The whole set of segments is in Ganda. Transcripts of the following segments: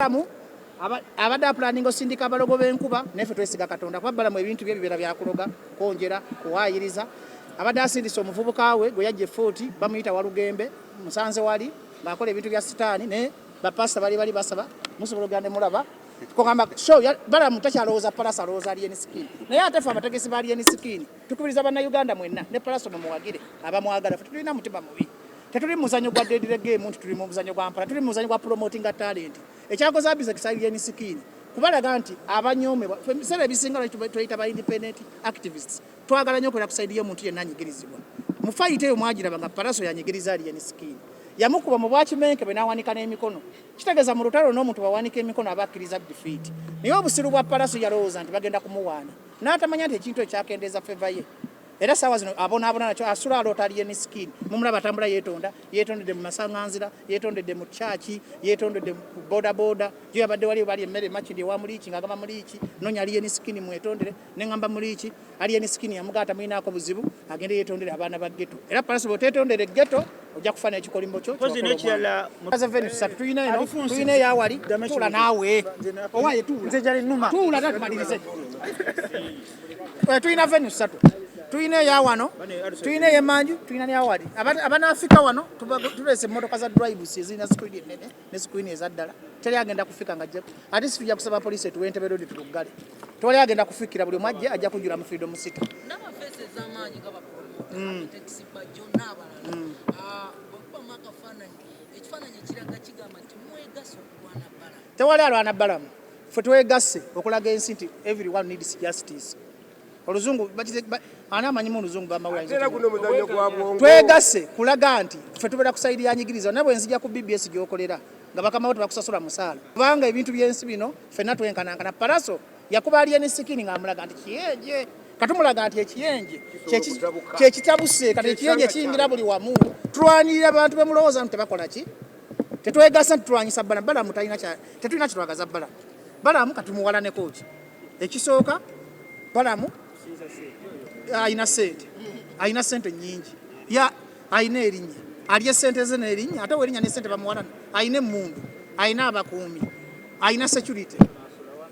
Balamu abadde apulaninga osindika abalogo b'enkuba naye ffe twesiga Katonda kuba Balamu ebintu bye bibeera byakuloga kwongera kuwaayiriza abadde asindise omuvubuka we gwe yajja efuuti bamuyita walugembe musanze wali ng'akola ebintu bya sitaani naye bapasita bali bali basaba musobola ogenda ne mulaba kugamba show balamu takyalowooza palasa alowooza alien skin naye ate fe abategesi ba alien skin tukubiriza bannayuganda mwenna ne palasa mumuwagire abamwagala fe tulina mutima mubi Tetuli muzanyo gwa dead the game nti tuli mu muzanyo gwa mpala, tuli mu muzanyo gwa promoting a talent. Ekyakoze abiza kisali yeni sikini. Kubalaga nti abanyome sebe bisinga lwa tuyita ba independent activists. Twagala nyo kwera kusaidia omuntu yenna anyigirizibwa. Mu fight eyo mwagira banga paraso yanyigiriza ali yeni sikini. Yamukuba mu bwachi menke bwe nawanika n'emikono. Kitegeza mu lutalo n'omuntu bawanika emikono abakiriza defeat. Naye obusiru bwa paraso yalowooza nti bagenda kumuwaana. N'atamanya nti ekintu ekyakendeeza favor ye. era sawa zino abonaabona nakyo asula aloota aliye ne sikini mumulaba atambula yeetonda yeetondedde mu masanganzira yeetondedde mu kyaki yeetondedde ku bodaboda gyo yabadde wali bali emmere makindi ewa muliiki ng'agamba muliiki nonya aliye ne sikini mwetondere ne ngamba muliiki aliye ne sikini yamugaata mulinaako buzibu agende yeetondere abaana ba geto era palasi bwoteetondere geto ojja kufa n'ekikolimo kyo tulina eyawali tuula naawe owaye tuula tuula tatumalirize Eh, tulina venu ssatu tulina eya wano tulina eyemanju tulina neyawali abanaafika wano tulese emotoka za drives ezirina screen enene ne screen ezaddala teri agenda kufika nga ate si tujja kusaba poliisi etuwe entebe rodi tuluggale tewali agenda kufikira buli mwajje ajja kujula mu freedom city mm. mm. ah, tewali alwana balamu Ffe twegasse okulaga ensi nti everyone needs justice. Oluzungu ani amanyimu oluzungu bamawetwegasse kulaga nti ffe tubeera kusayidi yanyigiriza naye bwenzija ku bbs gyokolera nga bakamawo tebakusasula musaala kubanga ebintu byensi bino fenna twenkanankana paraso yakuba aliyeni sikini ngaamulaga nti kiyeje katumulaga nti ekiyenje kyekitabuse kati ekiyenje kiyingira buli wamu tulwanirira abantu bemulowooza nti tebakola ki Tetwegasa nti tulwanyisa Balamu. Balamu talina kya tetulina kye twagaza Balamu. Balamu kati muwalaneko ki? Ekisooka Balamu alina ssente, alina ssente nnyingi, ya alina erinnya, alya ssente ze n'erinnya ate werinnya ne ssente bamuwalana, alina emmundu, alina abakuumi, alina security.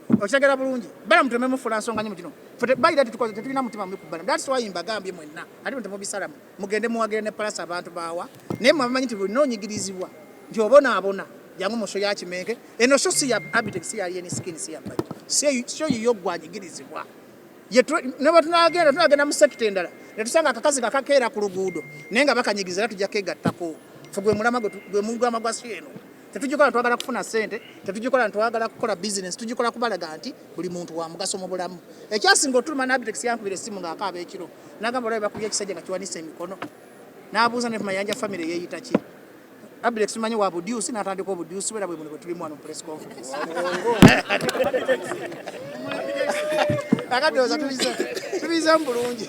Okitegera bulungi. Balamu tememufula nsonga nyo mu kino. Ffe bayira tetukoze tetulina mutima mubi ku Balamu. That's why mbagambye mwenna. Ate temubisalamu. mugende muwagira ne palasa abantu bawa naye mwe abamanyi nti bulina onyigirizibwa nti obonaabona jangu mu sho ya kimenke eno sho si ya abitex si ya yeni skin si ya baki sho yiyo gwanyigirizibwa nebatunagenda tunagenda mu sekita endala netusanga akakazi kakakeera ku luguudo naye nga bakanyigiza era tujja kegattako fe gwe mulama gwe mugwama gwa si eno tetugikola twagala kufuna sente tetugikola ntwagala kukola bizinesi tugikola kubalaga nti buli muntu wa mugaso mu bulamu ekyasinga otuluma nabitex yankubira essimu ng'akaaba ekiro nagamba olaba bakubya ekisajja nga kiwanisa emikono n'abuuza ne mayanja famire yeeyita ki abitex tumanyi wa budyusi n'atandika obudyusi bwera bwe muno bwe tulimu wano press conference akadooza tubize tubize mu bulungi